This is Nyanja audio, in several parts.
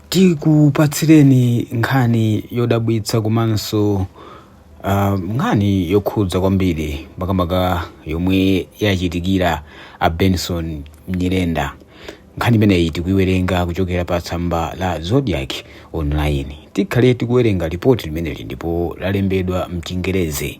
tikupatsireni nkhani yodabwitsa komanso uh, nkhani yokhudza kwambiri makamaka yomwe yachitikira a benson nyirenda nkhani imeneyi tikuiwerenga kuchokera pa tsamba la zodiac online tikhale tikuwerenga ripoti limeneli ndipo lalembedwa mchingerezi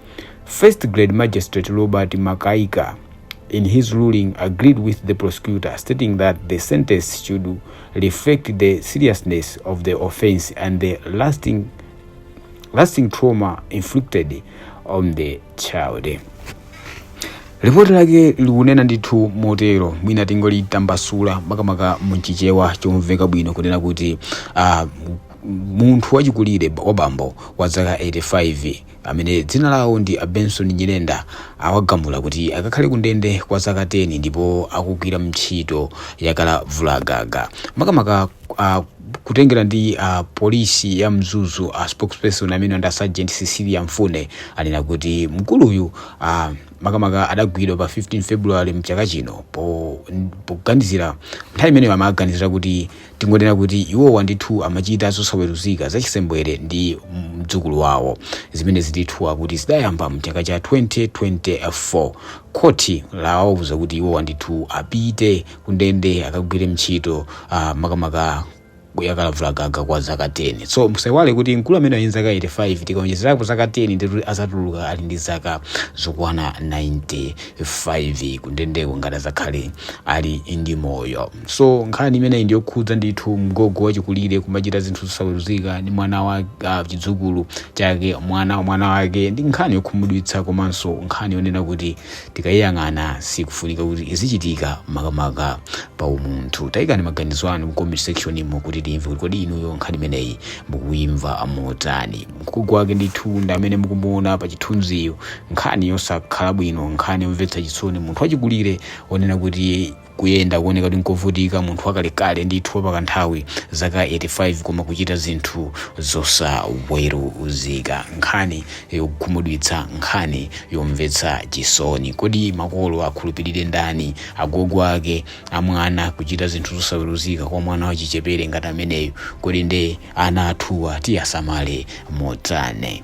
First Grade Magistrate Robert Makaika, in his ruling, agreed with the prosecutor, stating that the sentence should reflect the seriousness of the offense and the lasting trauma inflicted on the child. ripoti lake likunena ndithu motero mwina tingolitambasula makamaka mchichewa chomveka bwino kunena kuti uh, munthu wachikulire wabambo wa zaka 85 amene dzina lawo ndi a Benson Nyirenda awagamula kuti akakhale kundende kwa zaka 10 ndipo akugwira ntchito yakalavulagaga makamaka a kutengera ndi a polisi ya mzuzu a spokesperson amene ndi a sergeant cecilia mfune anena kuti mkuluyu a makamaka adagwidwa pa 15 february mchaka chino po- poganizira nthawi imeneyo amaganizira kuti Tingonena kuti iwowa ndithu amachita zosaweruzika zachisembwere ndi mdzukulu wawo. Zimenezi ndithu akuti zidayamba m'chaka cha 2024. Khoti lawauza kuti iwowa ndithu apite kundende akagwire ntchito uh, makamaka yakalavulagaga kwa zaka 10. So musaiwale kuti mkulu ameneyu ali ndi zaka 85 tikaonjezerapo zaka 10 ndithu azatuluka ali ndi zaka zokwana 95 kundendeko ngati azakhale ali ndi moyo. so nkhani imeneyi ndiyokhudza ndithu mgogo wachikulire kumachita zinthu zosaweruzika ndi mwana wa uh, chidzukulu chake mwana wa mwana wake ndi nkhani yokhumudwitsa komanso nkhani yonena kuti tikayiyang'ana sikufunika kuti izichitika makamaka pa umunthu tayikani maganizo anu mu comment section imo kuti timve kuti kodi inuyo nkhani imeneyi mukuimva motani mgogo wake ndithu ndi amene mukumuona pa chithunziyu nkhani yosakhala bwino nkhani yomvetsa chisoni munthu wachikulire onena kuti kuyenda kuoneka kuti nkovutika munthu wakalekale ndithu wapakanthawi zaka 85 koma kuchita zinthu zosaweruzika nkhani yokhumudwitsa nkhani yomvetsa chisoni kodi makolo akhulupirire ndani agogo ake amwana kuchita zinthu zosaweruzika kwa mwana wachichepere ngati ameneyo kodi nde ana athuwa tiwasamale motani